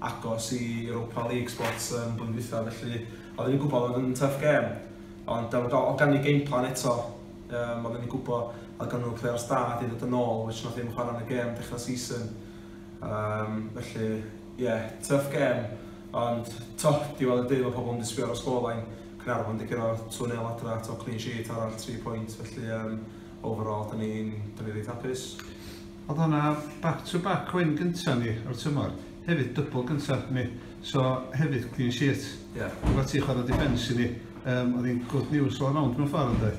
agos i Europa League spot um, blwyddyn dwytha, felly oedden ni'n gwybod oedd yn tough game. Ond um, oedd gan ni game plan eto, um, oedden ni'n gwybod oedd gan nhw'n players da di ddod yn ôl, which nath ddim chwarae yn y game dechrau season. Um, felly, ie, yeah, tough game, ond to, diwedd y dydd mae pobl yn disgwyl ar y sgorlain, Cynarfon di gyro 2-0 adra, to clean sheet arall, 3 pwynt, felly um, overall, da ni'n ni reit hapus. Oedd hwnna back to back win gynta ni o'r tymor. Hefyd dybl gynta ni. So hefyd clean sheet. Ie. Yeah. Efo ti chwarae defence i ni. Um, oedd hi'n good news all around mewn ffordd ynddo.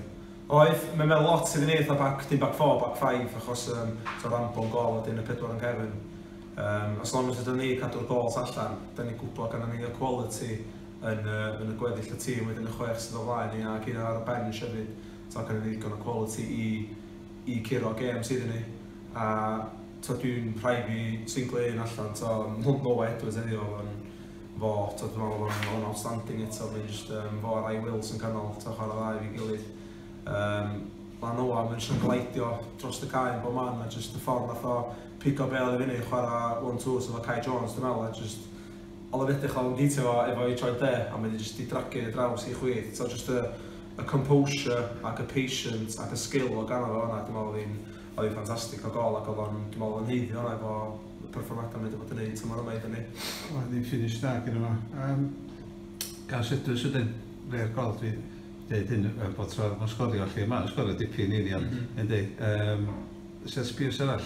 Oedd, mae'n meddwl lot iddyn ni eitha back, dim back four, back five, achos um, so rambol gol a dyn y pedwar yn cefn. Um, as long as ydyn ni cadw'r gols allan, da ni'n gwybod gan ni y quality yn, uh, yn y gweddill y tîm, wedyn y chwech sydd o flaen ni ac un ar y bench hefyd, so gan ni ddigon o quality i i curo gêms iddyn ni a t'od dwi'n rhaid fi singlo un allan t'o no no Edwards heddiw o'dd o'n fo t'od dwi'n me'wl o'dd o'n outstanding eto mae'n jyst yym fo a Ryan Wills yn canol t'o chwara dda efo'i gilydd yym ma' Noah mae'n jyst yn glaidio dros y cae yn bob man a jyst y ffordd nath o pigo bêl i fyny chwara one two so efo Kai Jones dwi'n me'wl a jyst Oedd o'n edrych o'n geitio fo efo ei troed de, a mae 'di jyst 'di dragio hi ar draws hi chwith. Tibod, jyst y y composure ac y patience ac y skill o' ganddo fo fan'na, dwi'n meddwl oedd hi'n oedd hi'n ffantastig o gôl ac oedd o'n, dwi'n meddwl oedd o'n haeddu hwnna efo y perfformiadau mae 'di bod yn neud tymor yma iddon ni. Oedd hi'n finish da gynno fo. Yym, gan Sedwys wedyn, fe'r gol dwi deud hyn yy bob tro ma'n sgorio 'lly, ma'n sgorio dipyn i ni ond yndi, yym, set piece arall.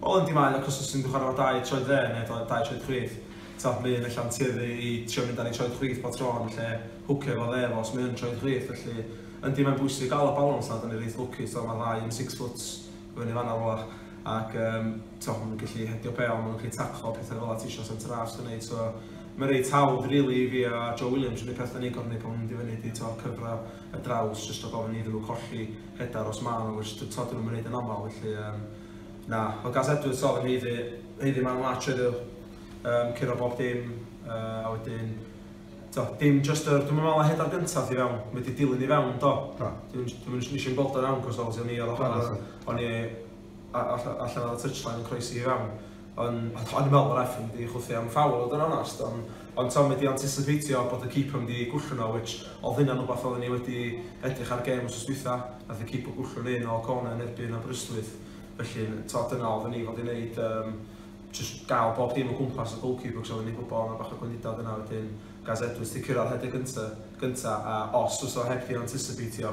Wel yndi mae 'na cwsmers sy'n chwarae efo dau troed dde neu dau troed chwith. T'wod mae un ella'n tueddu i trio mynd ar ei troed chwith bob tro yn lle hwcio efo dde fo os mae yn troed chwith felly yndi mae'n bwysig gael y balans 'na, 'dan ni reit lwcus t'wod ma'r ddau yn six foot i fyny fan'na rwla ac yym t'wod ma' nhw'n gallu hedio bêl, ma' nhw'n gallu taclo petha fela ti isio centre half sy'n neud so mae'n reit hawdd rili i fi a Joe Williams yr unig peth 'dan ni'n gorfod neud pan ma'n mynd i fyny ydi t'wod cyfro y draws jyst rhag ofn iddyn nhw colli headar os ma' 'na which t'wod 'dyn nhw'm yn neud yn amal felly yym Na, o Gaz Edwards oedd yn haeddu, haeddu man lach oedd um, curo bob dim, uh, a wedyn, do, dim just yr, dwi'n meddwl heda'r gyntaf i fewn, mae wedi dilyn i fewn, do. do. Dwi'n dwi nes i'n gweld o'n iawn, cos obviously o'n i ar ochr, o'n i allan ar y touchline yn croesi i fewn. O'n i'n meddwl bod ref yn mynd i chwythu am foul fod yn onest, ond t'od mae 'di anticipeitio bod y keeper yn mynd i gwllhwno o which oedd hynna'n wbath oedden ni wedi edrych ar gêm wsos dwytha, nath y keeper gwllhwnu un o corner yn erbyn Aberystwyth, felly t'od dyna oedden ni fod i neud yym jyst gael bob dim o gwmpas y goalkeeper achos oedden ni'n gwybod oedd 'na bach o gwendidau yna wedyn Gaz Edwards 'di cyrraedd rhedeg gynta gynta a os fysa fo heb 'di anticipeitio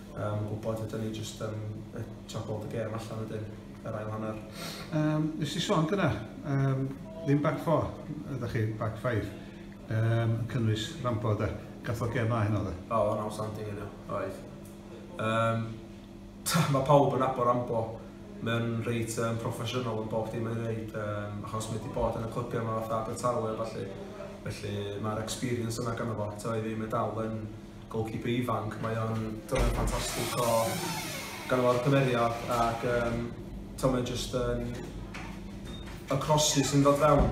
Um, gwybod, ydyn ni jyst yn um, top all the game allan wedyn, yr ail hanner. Um, nes i sôn gyda, um, ddim back four, ydych chi, back five, um, cynnwys rampo da, gath o'r gem a hyn o dda. O, oh, o'n standing yna, oedd. Um, mae pawb yn abo rampo, mae'n reit um, proffesiynol yn bob dim yn gwneud, um, achos mae wedi bod yn y clybiau yma fatha Abertawe a falle. Felly mae'r experience yna gan efo, ta oedd ddim yn dal yn Goalkeeper ifanc, mae o'n dylan ffantastig o ganddo fo'r cymeriad ac um, to mae'n just yn y crosses sy'n dod fewn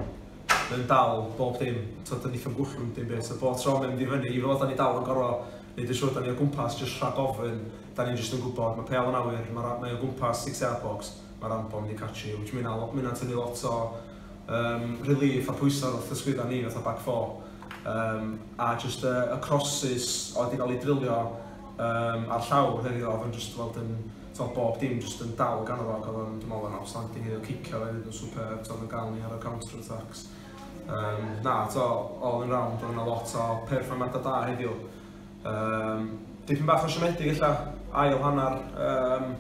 mae'n dal bob dim, to dyn ni'n gwchwm dim beth, so bob tro mae'n mynd i fyny, i fod da ni dal yn gorau neud yn siŵr da ni o gwmpas just rhag ofyn, da ni'n just yn gwybod, mae pel yn awyr, mae, mae o gwmpas six yard box, mae'r anbon wedi catch you, which mae'n tynnu lot o um, relief a pwysa ar wrth ysgwydda ni fatha back four um, a just uh, y crosses oedd wedi cael ei drilio um, ar llaw heddiw oedd yn just weld yn to, bob dim just yn dal gan o'r og oedd yn dymol yn outstanding heddiw cicio oedd yn super to, oedd yn gael ni ar y counter attacks um, na to, all in round oedd yna lot o performada da heddiw um, dipyn bach o siomedig illa ail hanner um,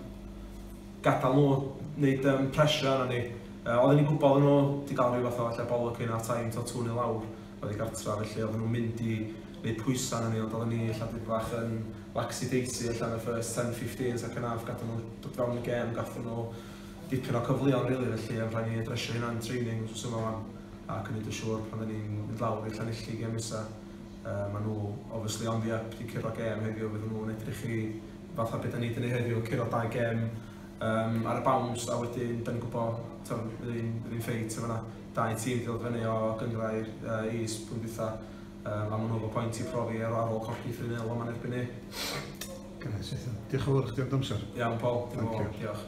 gadael nhw wneud um, pressure arno ni. Uh, oedden ni'n gwybod nhw wedi cael rhyw fath o allan bolwg hyn ar taim to tŵn i lawr oedd i gartra, felly oedden nhw'n mynd i wneud pwysau arno ni, ond oedden ni allan dweud bach yn laxi daisy allan y first 10-15, second half, gadw nhw dod fewn y gem, gadw nhw dipyn o cyfleon, rili, really, felly rhaid ni adresio hynna'n training, os yma fan, ac yn neud yn siŵr pan oedden ni'n mynd lawr i'r Llanelli gem nesaf. Uh, maen nhw, obviously, ond ia, wedi curo gem heddiw, fydden nhw'n edrych i fatha beth da ni wedi gwneud heddiw, curo dau gem um, ar y bawns, a wedyn, da ni'n gwybod, bydd hi'n ffeit yma, dau tîm wedi dod fyny o gyngrair uh, is pwynt dwytha, um, a maen nhw efo pwynt i profi ar, ar ôl colli 3-0 yma'n erbyn ni. Gynnes, eitha. Diolch yn fawr chdi am dy amser. Iawn, Paul. Diolch.